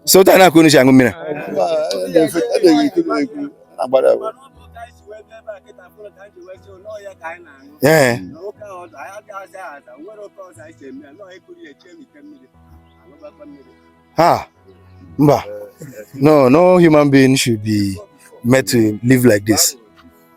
so otu a ka unu si aṅụ mmiri ee ha mba no no human being should be made to live like this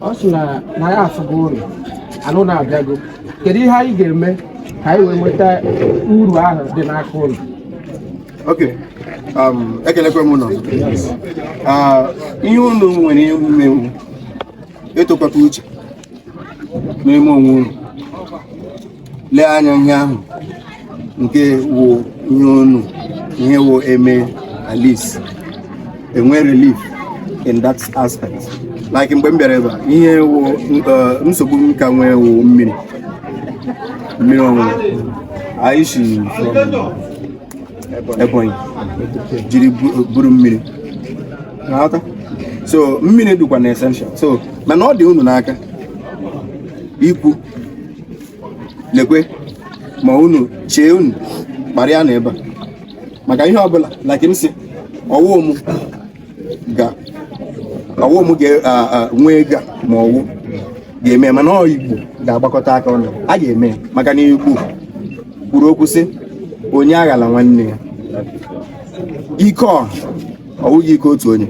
ọ sị na na ya afụgo uru ahụ na-abịago kedu ihe anyị ga-eme ka anyị wee nweta uru ahụ dị n'aka unu Okay. Um, ekelekwe m unu Ah, ihe unu nwere ime wụ ịtụkọta uche n'ime onwe unu lee anya ihe ahụ nke wụ ihe unu ihe wụ eme at least e nwee relief in that aspect like mgbe m bịara ebe a ihe wụ uh, nsogbu m ka nwee wụ mmiri mmiri ọṅụṅụ anyị si Ebonyi jiri buru mmiri na-aghọta so mmiri dịkwanụ essential so mana ọ dị unu n'aka ikwu lekwe ma unu chee unu kparịa na ebe a maka ihe ọbụla like m si ọ wụ m ga ọ wụ m ga-enwe ego ma ọ wụ ga-eme mana ọ Igbo ga-agbakọta aka ọnụ a ga-eme maka na Igbo kwuru okwu sị onye aghala nwanne ya ike ọha ọ wụghị ike otu onye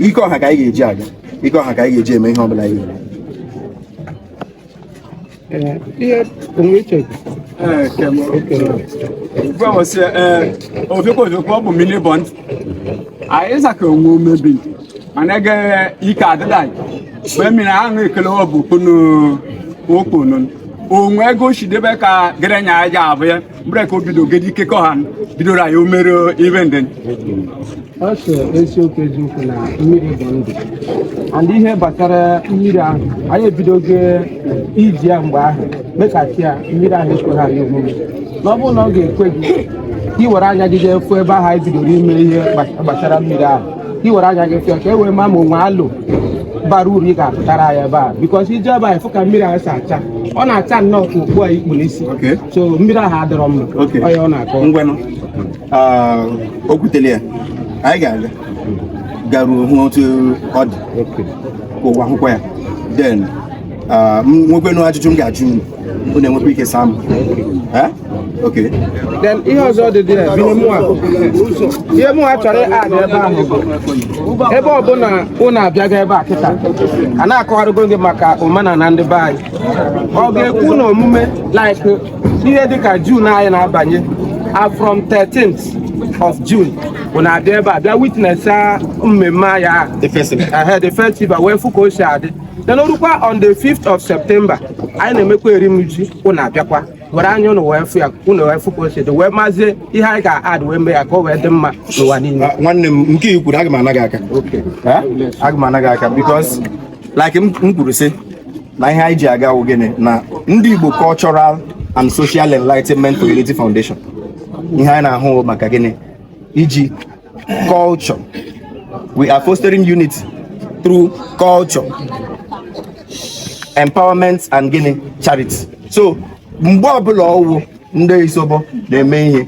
ike ọha ka anyị ga-eji aga ike ọha ka anyị ga-eji eme ihe ọbụla anyị ga-eme Eh, ihe onwe iche gwawasị ofekwaofekwa ọ bụ mmiri bọnd anyị zaka onwe omebi mana ege ike adịda mgbe mmiri ahụ ekele ọ bụ kunu okponun onwe ego shidebe ka gerenya aja abụ ya mgbe ka o bido gedi ikekọ ha bidoro anyị omere ibe ndị ọ sị eziokwu eziokwu na mmiri bụ ndụ and ihe gbasara mmiri ahụ anyị ebidogo iji ya mgbe ahụ mekasị ya mmiri ahụ ekweghị anyị omume na ọ bụrụ na ọ ga-ekwe gị ka ị were anya gị jee fụ ebe ahụ anyị bidoro ime ihe gba- gbasara mmiri ahụ ka ị were anya gị fụ ka e wee ma ma o nwee alo bara uru ị ga-apụtara ya ebe a because i jee ebe a ị fụ ka mmiri ahụ si acha ọ na-acha nnọọ ka okpu a i kpu n'isi Okay. so mmiri ahụ adịrọ mma Okay. onye ọ na-akọ ngwanụ ah, o kwutere ya anyị ga-aga garuo hụ otu ọ dị Okay. ka ụwa hụkwa ya then ah, m nwekwenu ajụjụ m ga-ajụ unu unu enwekwa ike saa m Eh? okay then ihe ọzọ dị dị ya bụ ihe mụ a ihe mụ a chọrọ ad ebe ahụ bụ ebe ọ bụ na unu abịago ebe a kịta a na-akọwarụgo gị maka omenana ndị be anyị ọ ga-ekwu na omume like ihe dịka June anyị na-abanye from 13th of June ụnụ abịa ebe a bịa witness mmemme anyị a the festival wee fụ ka o si adị then o rukwa on the 5th of September anyị na-emekwa erimuji ụnụ abịakwa were anya ụnụ wee fụ ya ụnụ wee fụ ka o si dị wee mazie ihe anyị ga-add wee mee ya ka o wee dị mma n'ụwa niile ah, nwanne m nke i kwuru aga m ana gị aka aga m ana gị aka because like m kwuru sị na ihe anyị ji aga wụ gịnị na ndị Igbo Cultural and Social Enlightenment Community Foundation ihe anyị na-ahụ maka gịnị iji culture we are fostering unity through culture empowerment and gịnị charity so mgbe ọbụla ọwụ ndị Isobo na-eme ihe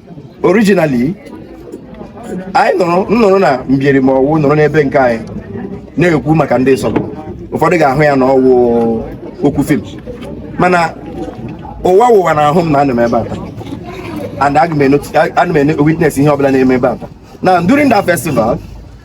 originally anyị nọrọ m nọrọ na Mbieri ma ọwụ nọrọ n'ebe nke anyị na-ekwu maka ndị Isobo ụfọdụ ga-ahụ ya na ọwụ okwu film mana ụwa ụwa na ahụ m na anọ m ebe a and ana m witness ihe ọbụla na-eme ebe a na during that festival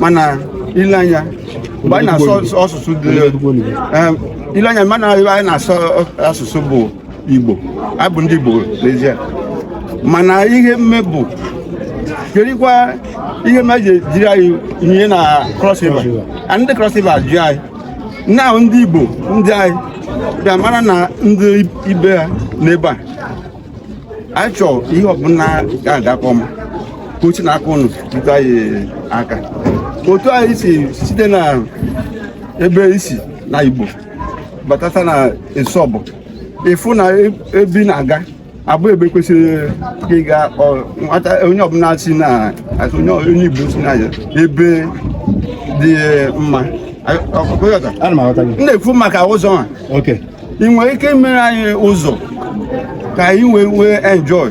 mana i lee anya mgbe anyị na-asụ asụsụ dị eh, i lee anya mana anyị na-asụ asụsụ bụ igbo anyị bụ ndị igbo n'ezie mana ihe mme bụ kerikwa ihe mere e ji jiri anyị ihe na cross river ndị cross river ji anyị na ndị igbo ndị anyị bịa mara na ndị ibe ha nọ ebe a anyị chọọ ihe ọbụla ga-adakọ m ka uche na aka ụnụ jikọ anyị aka otu a i si site na ebe i si na igbo batata na Isobo ị fụ na ebe ị na-aga abụ ebe kwesịrị ịga nwata onye ọbụla si na onye igbo si na ebe dị mma m na-ekwu maka ụzọ a ị nwere ike mere anyị ụzọ ka anyị wee nwee enjoy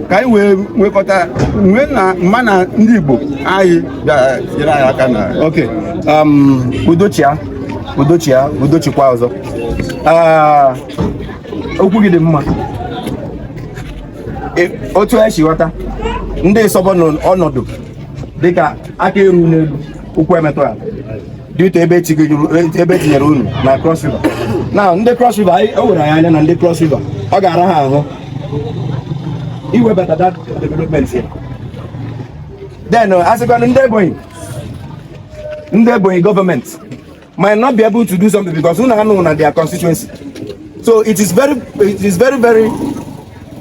ka anyị wee nwekọta nwee na mma na ndị Igbo anyị bịara nyere anyị aka na ok um, udo chịa udo chịa udo chịkwa ọzọ ah, okwu gị dị mma e, otu e si ghọta ndị Isobo ọnọdụ dịka aka eru n'elu ụkwụ emetụ ala due to ebe e tinyere unu na Cross River na ndị Cross River anyị o were anyị anya na ndị Cross River ọ ga-ara ha ahụ iwebata that development ya then uh, a sịkwanụ ndị Ebonyi ndị Ebonyi government might not be able to do something because unu anọghị na their constituency so it is very it is very very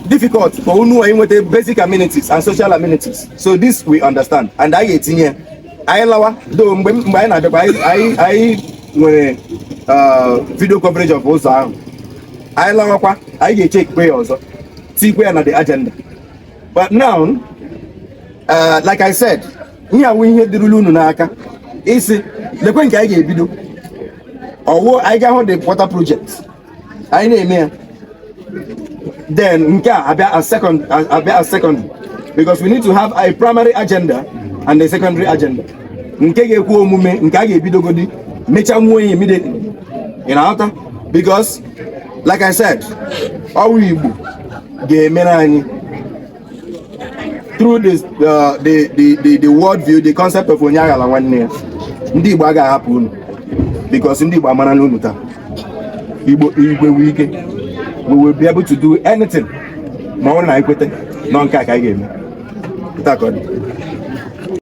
difficult for unu inweta basic amenities and social amenities so this we understand and anyị etinye anyị lawa do mgbe mgbe anyị na-abịakwa anyị anyị nwere uh, video coverage of ụzọ ahụ anyị lawakwa anyị ga-echekikwe ya ọzọ tikwe ya na the agenda but now uh, like I said ihe a wụ ihe dịrụla unu n'aka ịsị lekwe nke anyị ga-ebido ọ wụ anyị ga-ahụ the water project anyị na-eme ya then nke a abịa as second abịa as second because we need to have a primary agenda and a secondary agenda nke ga-ekwe omume nke a ga-ebidogodi mechanwuo ya immediately ị na-aghọta because like I said ọ wụ Igbo ga-emere anyị through this, uh, the, the, the, the world view, the concept of onye aghala nwanne ya ndị Igbo agaghị ahapụ unu because ndị Igbo amara n'unu taa Igbo igwe wụ ike we will be able to do anything ma ọ wụrụ na ekweta na nke a ka anyị ga-eme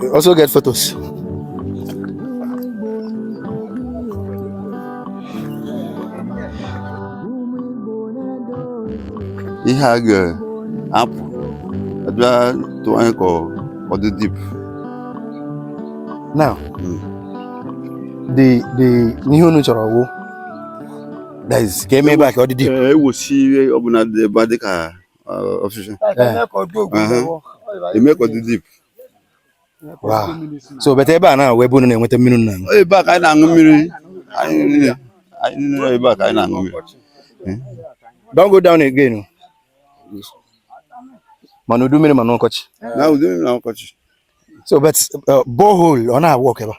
We also get photos. Ihe a ga-apụ abịa tụọ anyị ka ọ dị deep. Now, the the n'ihe unu chọrọ wụ ka eme ebe a ka ọ dị dị ewosi ihe ọbụla dị ebe a dịka ọfịsha eme ka ọ dị deep so but ebe a na-awụ ebe unu na-enweta mmiri na-aṅụ ebe a ka anyị na-aṅụ mmiri anyị niile anyị niile ebe a ka anyị na-aṅụ mmiri don go down again ma n'udu mmiri ma n'ọkọchị na udu mmiri na ọkọchị so but borehole ọ na-awụ ọkụ ebe a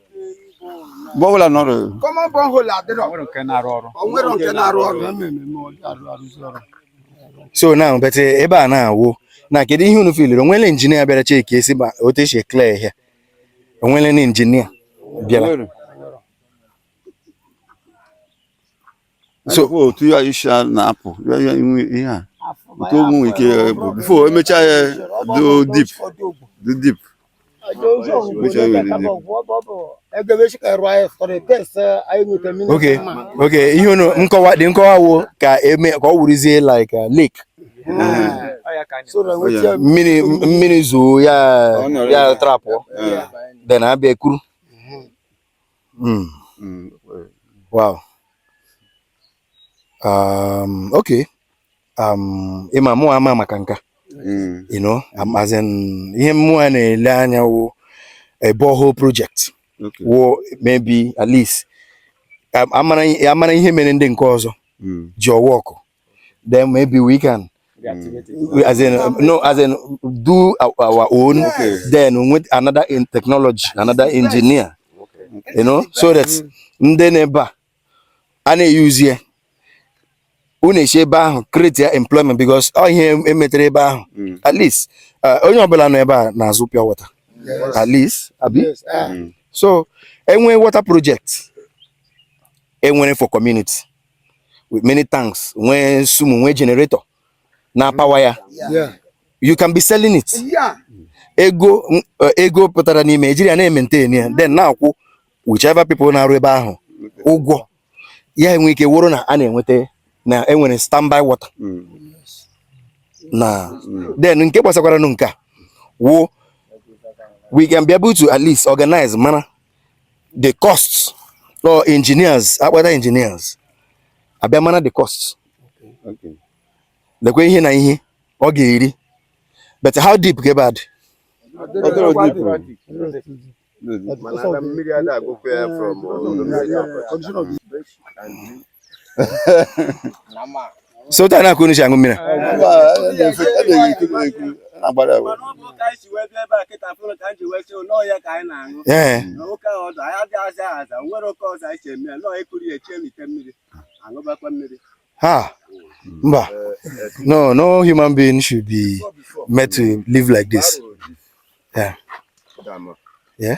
borehole anọrọ common borehole adịrọ onwere nke na-arụ ọrụ onwere nke na-arụ ọrụ so na but ebe a na-awụ na kedu ihe unu filiri o nwela injinia bịara cheki esi ma otu esi ekle ihe onwere na injinia bịara so otu ya isi a na-apụ ihe a otu ụmụ nwere ike bụ before emechaa ya do deep do deep okay okay ihe unu na-akọwa dị na-akọwa wụ ka eme ka ọ wụrụzie like uh, lake mmiri mmiri zoo ya ya trapụọ then abịa ekuru Mm. Mm. Wow. Um, okay. Um, ị ma mụwa ama maka nka. Mm. You know, um, as in ihe mụwa na-ele anya wụ a borehole project. Okay. Wụ maybe at least um, amara amara ihe mere ndị nke ọzọ Mm. ji ọwa ọkụ then maybe we can mm. as in no as in do our, our own okay. then with another in technology another engineer okay. you know so that mm. ndị nọ ebe a a na-eyuzi ya unu esi ebe ahụ create ya employment because ọ ihe emetere ebe ahụ mm. at least uh, onye ọbụla nọ ebe a na-azụ pure water at least abi ah. so enwere water project enwere for community with many tanks nwee sumo nwee generator na-apower ya you can be selling it ego eh, ego pụtara n'ime e jiri ya na-ementain ya then na-akwụ whichever people na-arụ ebe ahụ ụgwọ ya enwe ike wụrụ na a na-enweta na enwere standby water mm. na mm. then nke gbasakwaranụ nke a wụ we can be able to at least organize mara the cost or engineers akpọta engineers abịa amara the cost lekwa ihe na ihe ọ ga-eri but how deep ka ebe a dị so ụta na-akụ unu si aṅụ mmiri ee ha mba no no human being should be made to live like this yeah yeah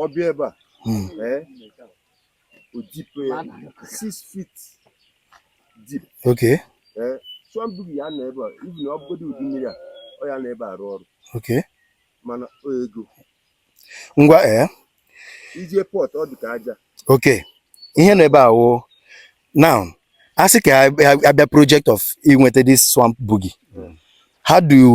ọ bịa ebe a hmm. ee o dipe ya six feet deep okay ee chụọ mbibi ya na ebe a ibi na ọ bụgodị ụdị mmiri a ọ ya na ebe arụ ọrụ okay mana o ego ngwa ee ije pọt ọ dị ka aja okay ihe na ebe a wụ now asị ka abịa project of inweta this swamp buggy how do you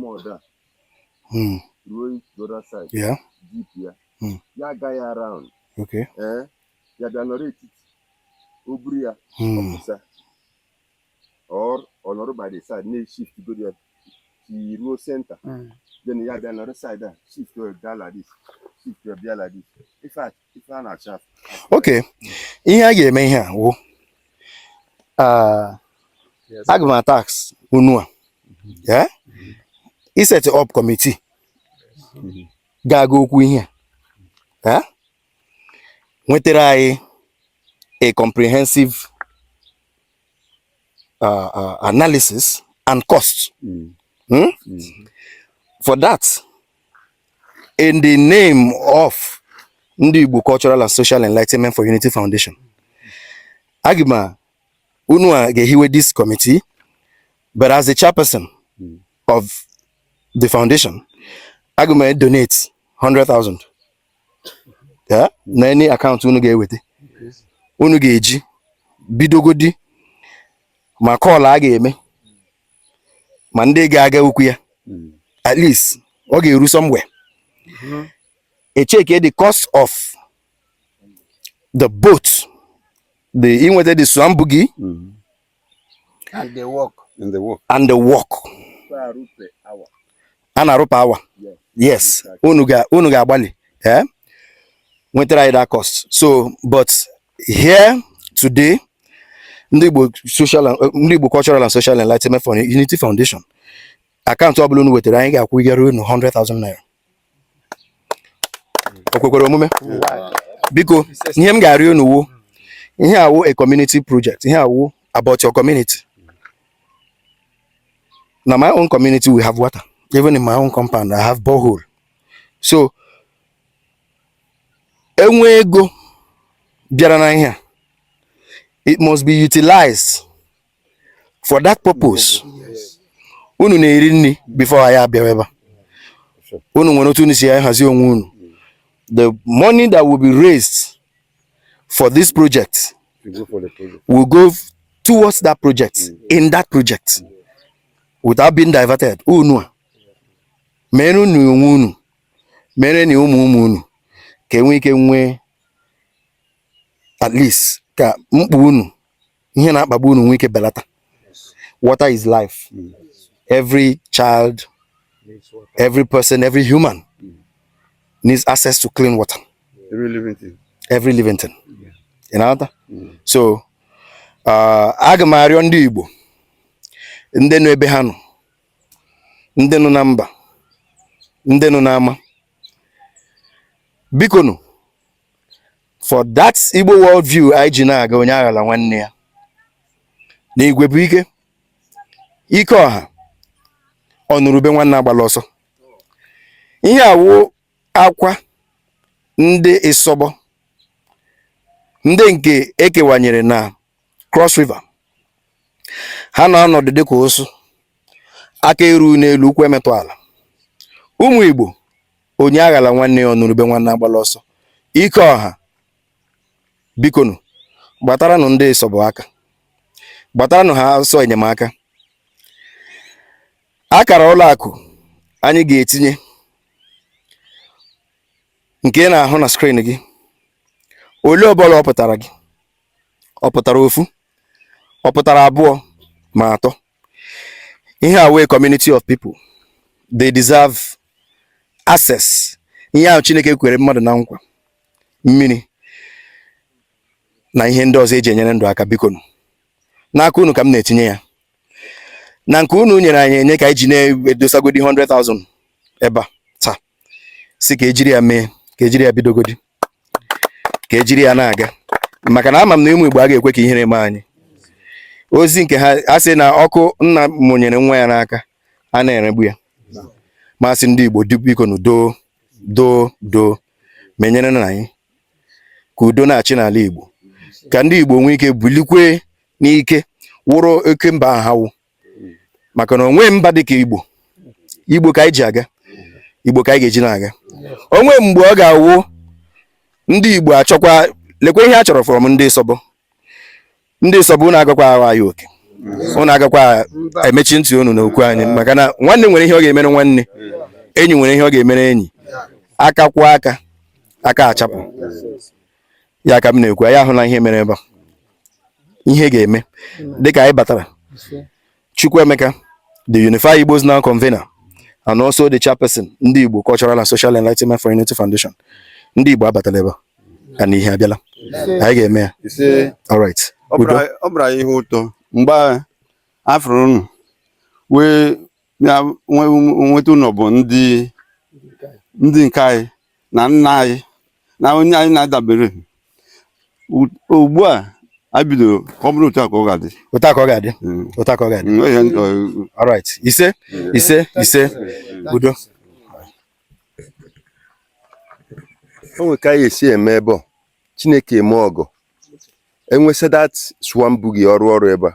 mọda hmm. ruo the other side jip ya hmm. ya aga ya around ee ya bịa nọrọ etiti o buru ya hmm. ọpụsa or ọ nọrọ by the side na-eshiftgodi ya ruo center then ya bịa nọrọ side a shift bịa like this shift bịa like this in fact okay ihe a ga-eme ihe a wụ aga m atask unu a iset up committee ga-aga okwu ihe a nwetara anyị a comprehensive uh, uh, analysis and cost. Mm. Hmm? Mm. For that, in the name of ndị Igbo Cultural and Social Enlightenment for Unity Foundation aga m a unu a ga-ehiwe this committee but as the chairperson of the foundation aga m edonate 100,000 yeah? na any account unu ga-eweta unu ga-eji bidogodi ma call a ga-eme ma ndị ga-aga okwu ya hmm. at least ọ ga-eru somewhere mm-hmm. e checkie the cost of the boat the inweta the swamp buggy mm-hmm. and the work and the work and the work a na-arụ per hour yes unu ga unu ga-agbalị eh nwetara anyị that cost so but here today ndị Igbo social and ndị Igbo cultural and social enlightenment for Unity Foundation akaụntụ ọbụla unu wetara anyị ga-akwụnyere unu 100,000 naira o kwekwara omume biko ihe m ga-arịọ unu wụ ihe a wụ a community project ihe a wụ about your community na my own community we have water even in my own compound i have borehole so e nwee ego bịara n'ihe a it must be utilized for that purpose unu na-eri nri before anyị abịawa ebe a unu nwere otu unu si hazie onwe unu the money that will be raised for this project, will go for the project. Will go towards that project, mm. in that project, mm. without being diverted. Unu mereni onwe unu, mereni ụmụ ụmụ unu, ka e nwee ike nwee at least ka mkpa unu ihe na-akpagbu unu nwee ike belata water is life every child every person every human needs access to clean water every living thing every living thing ị na-aghọta so uh, aga m arịọ ndị Igbo ndị nọ ebe ha nọ ndị nọ na mba ndị nọ n'ama bikonu for that Igbo world view anyị ji na-aga onye aghala nwanne ya na igwe bụ ike ike ọha ọ nụrụ ube nwanne agbala ọsọ ihe a wụ akwa ndị Isobo ndị nke e kewanyere na Cross River ha na-anọdụ dịka ụsụ aka eru n'elu ụkwụ emetụ ala ụmụ Igbo onye aghala nwanne ya ọ nụrụ ube nwanne agbala ọsọ ike ọha bikonu gbataranụ ndị Isobo aka gbataranụ ha ọsọ enyemaka akara ụlọ akụ anyị ga-etinye nke ị na-ahụ na screen gị ole ọbụla ọ pụtara gị ọ pụtara ofu ọ pụtara abụọ ma atọ ihe a wụ a community of people they deserve access ihe ahụ Chineke kwere mmadụ na nkwa mmiri na ihe ndị ọzọ eji enyere ndụ aka bikonụ n'aka unu ka m na-etinye ya na nke unu nyere anyị enye ka anyị ji na-edosagodi 100,000 ebe a taa sị ka ejiri ya mee ka ejiri ya bidogodi ka ejiri ya na-aga maka na ama m na ụmụ Igbo aga ekwe ka ihere mee anyị ozi nke a sị na ọkụ nna mụnyere nwa ya n'aka ana eregbu ya masị ndị Igbo bikonụ doo doo doo menyere na anyị ka udo na-achị n'ala Igbo ka ndị Igbo nwee ike bulikwe n'ike wụrụ oke mba ha wụ maka na o nwe mba dịka igbo igbo ka anyị ji aga igbo ka anyị ga-eji na-aga o nwe mgbe ọ ga-awụ ndị igbo achọkwa lekwa ihe a chọrọ from ndị Isobo ndị Isobo unu agakwa ahụ anyị oke unu agakwa emechi ntị unu na okwu anyị maka na nwanne nwere ihe ọ ga-emere nwanne enyi nwere ihe ọ ga-emere enyi aka kwọọ aka aka achapụ ya ka m na-ekwu anyị ahụla ihe mere ebe a ihe ga-eme dịka anyị batara Chukwuemeka the Unify Igbos Now convener and also the chairperson ndị Igbo Cultural and Social Enlightenment for Unity Foundation ndị Igbo abatala ebe a na ihe abịala anyị ga-eme ya all right ọ bụrụ anyị ihe ụtọ mgbe a fụrụ unu wee ya nweta unu bụ ndị ndị nke anyị na nna anyị na onye anyị na-adabere ugbu a anyị bidoro ka ọ bụrụ otu a ka ọ ga-adị otu a ka ọ ga-adị mm. otu a ka ọ ga-adị mm, uh, all right ise mm. ise ise udo o nwere ka anyị esi eme ebe ọ chineke eme ọgọ enwesị that swamp bụghị ọrụ ọrụ ebe a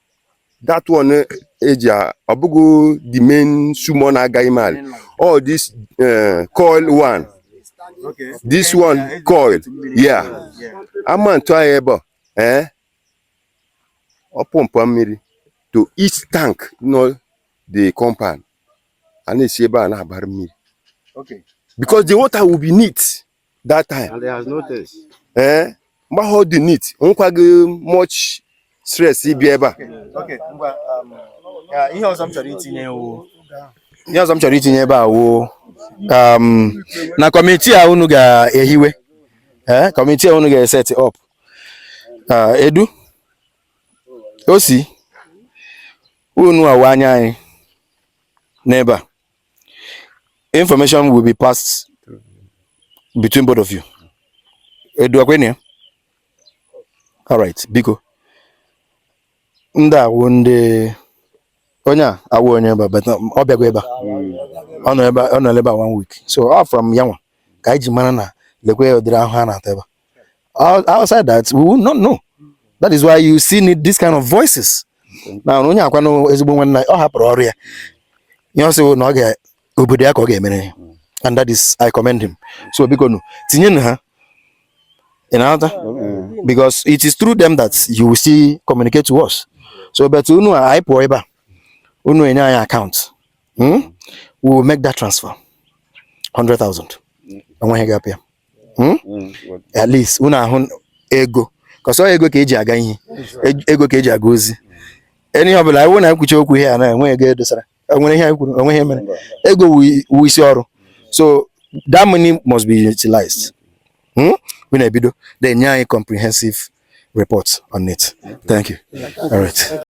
that one eh, eji a- ọ bụghị the main sumo na-aga ime ala all this eh, coil one Okay. this one coil yeah ama ntụ anyị ebe a eh ọ pọmpụ mmiri to each tank nọ the compound a na-esi ebe a na-agbara mmiri Okay. because the water will be neat that time and there has no taste eh mgbe ahụ ọ dị neat nwekwaghị much stress ibi ebe a okay ngwa um, ya, ihe ọzọ m chọrọ itinye wụ ihe ọzọ m chọrọ itinye ebe a wụkwa na kọmiti a unu ga-ehiwe ee kọmiti a unu ga-eset up Ah, edu o si unu awụ anya anyị n'ebe a Information will be passed between both of you. Edu akwenye? All right, biko. Ndị a wụ ndị onye a awụ onye ebe a but ọ bịago ebe a. Ọ nọ ebe ọ nọla ebe a one week. So ọ from ya nwa ka anyị ji mara na lekwa ụdịrị ahụhụ ha na-ata ebe a. outside that we will not know that is why you still need this kind of voices na onye a kwa na ezigbo nwanne ọ hapụrụ ọrụ ya ihe ọ sị na ọ ga obodo ya ka ọ ga-emere ya and that is I commend him so bikonu tinyenụ ha ị na-aghọta because it is through them that you will still communicate to us so but unu a anyị pụọ ebe a unu enye anyị account hmm? we will make that transfer 100,000 enweghị gị apịa hmm? hmm, at least unu ahụ ego cause ọ ego ka eji aga ihe ego ka eji aga ozi ihe ọ bụla iwu na nkwuchi okwu ihe a na enwe ego edosara enwere ihe kwuru o nwe ihe mere ego wu isi ọrụ so that money must be utilized hmm? unu ebido then nye anyị comprehensive report on it thank you all right